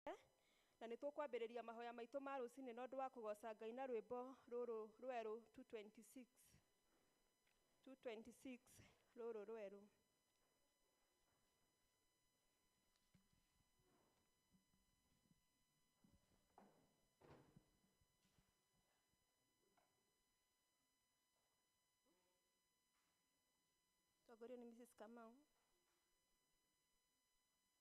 Tũũkĩrĩte, na nĩ tũkwambĩrĩria mahoya maitũ ma rũcinĩ na ũndũ wa kũgooca Ngai na rwĩmbo rũrũ rwerũ 2:26. 2:26 rũrũ rwerũ. Tongorio nĩ Mrs. Kamau.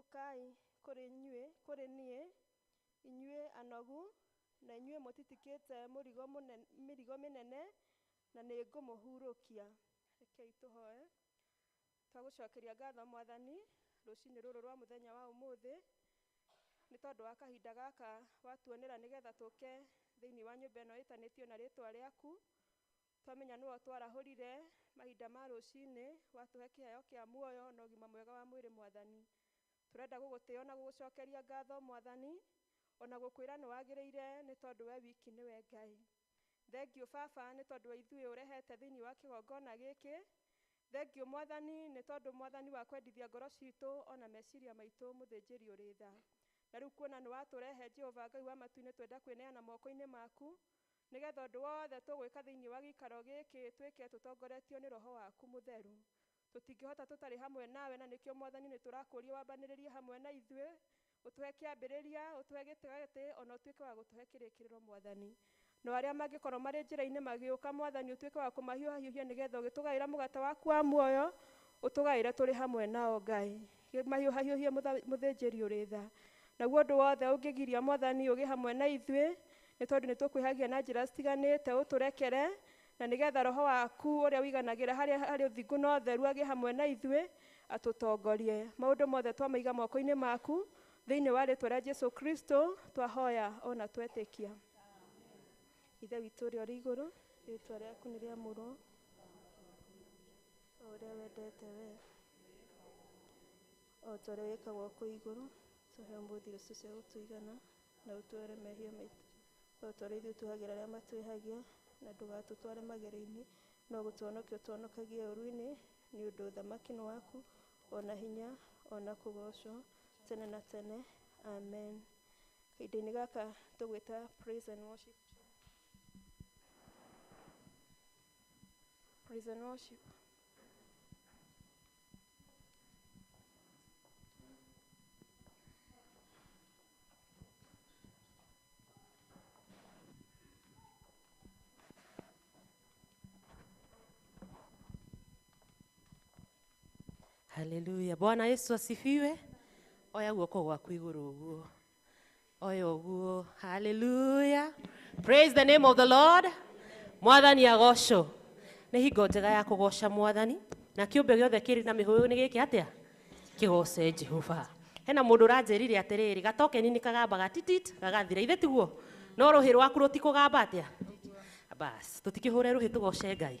Ũkai kũrĩ inyuĩ, kũrĩ niĩ, inyuĩ anogu, na inyuĩ mũtitikĩte mũrigo mũnene, mĩrigo mĩnene, na nĩ ngũmũhurũkia. Rekei tũhoe. Twagũcokeria ngatho Mwathani, rũcinĩ rũrũ rwa mũthenya wa ũmũthĩ, nĩ tondũ wa kahinda gaka watuonera nĩgetha tũke thĩinĩ wa nyũmba ĩno ĩtanĩtio na rĩtwa rĩaku. Twamenya nĩwe ũtwarahũrire mahinda ma rũcinĩ, watũhe kĩheo kĩa muoyo na ũgima mwega wa mwĩrĩ Mwathani. Tũrenda gũgũtĩo na gũgũcokeria ngatho Mwathani, o na gũkwĩra nĩ wagĩrĩire nĩ tondũ we wiki nĩwe Ngai. Thengiũ Baba nĩ tondũ wa ithuĩ ũrehete thĩinĩ wa kĩgongona gĩkĩ. Thengiũ Mwathani nĩ tondũ Mwathani wa kwendithia ngoro citũ o na meciria maitũ mũthĩnjĩri ũrĩ tha. Na rĩu kuona nĩ watũrehe Jehova Ngai wa matu-inĩ twenda kwĩneana moko-inĩ maku, Nĩgetha ũndũ wothe tũgwĩka thĩinĩ wa gĩikaro gĩkĩ twĩke tũtongoretio nĩ Roho waku Mũtheru. Tũtingĩhota tũtarĩ hamwe nawe na nĩkĩo Mwathani nĩtũrakũũria wambanĩrĩrie hamwe na ithuĩ, ũtũhe kĩambĩrĩria, ũtũhe gĩtĩgatĩ o na ũtuĩke wa gũtũhe kĩrĩkĩrĩro Mwathani. Nao arĩa mangĩkorwo marĩ njĩrainĩ magĩũka Mwathani ũtuĩke wa kũmahiũhahiũhia nĩgetha ũgĩtũgaĩra mũgate waku wa muoyo ũtũgaĩre tũrĩ hamwe nao Ngai. Kĩmahiũhahiũhie mũtha- mũthĩnjĩri ũrĩ tha. Naguo ũndũ wothe ũngĩgiria Mwathani ũgĩ hamwe na ithuĩ, nĩ tondũ nĩ tũkwĩhagia na njĩra citiganĩte, ũtũrekere, na nĩ getha Roho waku ũrĩa ũiganagĩra harĩa harĩ ũthingu na ũtheru agĩ hamwe na ithuĩ, atũtongorie. Maũndũ mothe twamaiga moko-inĩ maku, thĩinĩ wa rĩtwa rĩa Jesu Kristo, twahoya o na twetĩkia. Ithe witũ ũrĩa ũrĩ igũrũ, rĩtwa rĩaku nĩ rĩamũrwo, o ũrĩa wendete wee. O ta ũrĩa wĩkagwo kũu igũrũ, tũhe ũmũthĩ irio citũ cia gũtũigana, na ũtuohere mehia maitũ, o ta ũrĩa ithuĩ tuohagĩra arĩa matwĩhagia, na ndũgatũtware magerio-inĩ, no gũtũhonokia ũtũhonokagie ũũru-inĩ, nĩ ũndũ ũthamaki nĩ waku, o na hinya, o na kũgoocwo, tene na tene. Amen. Kahinda-inĩ gaka tũgwĩta praise and worship team. Praise and worship. Haleluya. Bwana Yesu asifiwe. Oya guoko gwaku igũrũ ũguo. oyoguo haleluya praise the name of the lord mwathani agocwo nĩ hingo njega ya kũgoca mwathani na kĩũmbe gĩothe kĩrĩ na mĩhũyũ nĩ gĩkĩ atĩa kĩgoce jehova hena mũndũ ũranjĩrire atĩrĩrĩ gatokeni nĩ kagambaga titit gagathira ithe tiguo no rũhĩ rwaku rũtikũgamba atĩa bas tũtikĩhũre rũhĩ tũgoce ngai